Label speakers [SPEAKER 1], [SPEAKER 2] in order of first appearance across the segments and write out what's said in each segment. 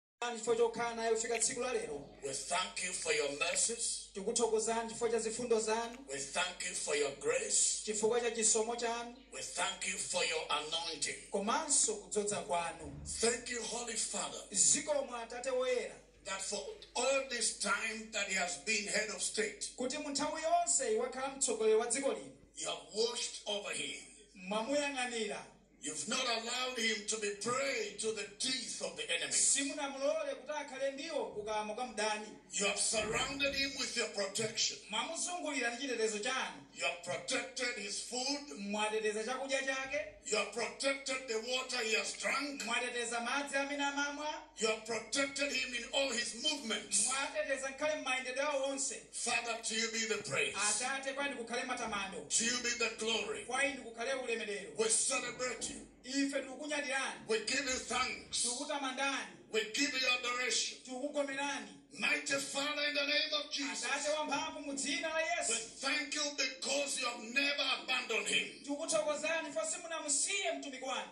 [SPEAKER 1] Tikukutamandani chifukwa chokhala naye kufika tsiku la lero We thank you for
[SPEAKER 2] your mercies. tikuthokozani chifukwa cha
[SPEAKER 1] zifundo zanu We thank you for
[SPEAKER 2] your grace. chifukwa cha chisomo
[SPEAKER 1] chanu We thank you for
[SPEAKER 2] your anointing. komanso kudzodza
[SPEAKER 1] kwanu Thank you, Holy
[SPEAKER 2] Father, zikomo atate
[SPEAKER 1] woyera that for
[SPEAKER 2] all this time that he has been head of state, kuti mu nthawi yonse
[SPEAKER 1] wakhala mtsogoleri wa dziko lino you have watched
[SPEAKER 2] over him. mwamuyang'anira
[SPEAKER 1] You've not
[SPEAKER 2] allowed him to be prey to the teeth of the enemy. simunamulole kuti
[SPEAKER 1] akhale ndiwo kukamwa kwa mdani You have surrounded
[SPEAKER 2] him with your protection. mwamuzungulira ndi
[SPEAKER 1] chitetezo chanu You have protected
[SPEAKER 2] his food. mwateteza chakudya
[SPEAKER 1] chake You have protected
[SPEAKER 2] the water he has drunk. mwateteza madzi
[SPEAKER 1] amene amamwa You have protected
[SPEAKER 2] him in all his movements. mwateteza ngakhale
[SPEAKER 1] m'mayendedwe awo onse Father, to you be
[SPEAKER 2] the praise. atate kwa inu
[SPEAKER 1] kukhale matamando To you be the
[SPEAKER 2] glory. kwa inu
[SPEAKER 1] kukhale ulemerero We celebrate
[SPEAKER 2] you. ife tikukunyadirani
[SPEAKER 1] We give you
[SPEAKER 2] thanks. tikukutamandani
[SPEAKER 1] We give you
[SPEAKER 2] adoration.
[SPEAKER 1] tikukugomerani
[SPEAKER 2] Mighty Father, in the name of Jesus, atate wamphamvu
[SPEAKER 1] mu dzina la yesu thank
[SPEAKER 2] you because you have never abandoned him. tikukuthokozani chifukwa
[SPEAKER 1] simunamusiye mtumiki wanu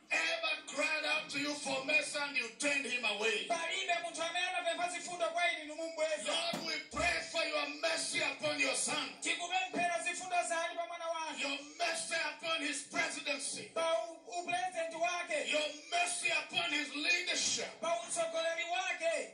[SPEAKER 2] ever cried out to you for mercy and you turned him away. palibe munthu
[SPEAKER 1] amene anapempha zifundo kwa inu inu n'kumubweza Lord, we pray
[SPEAKER 2] for your mercy upon your son, tikupemphera
[SPEAKER 1] zifundo zanu pa mwana wanu your
[SPEAKER 2] mercy upon his presidency, pa
[SPEAKER 1] u- upulezidenti wake your mercy
[SPEAKER 2] upon his leadership. pa utsogoleri
[SPEAKER 1] wake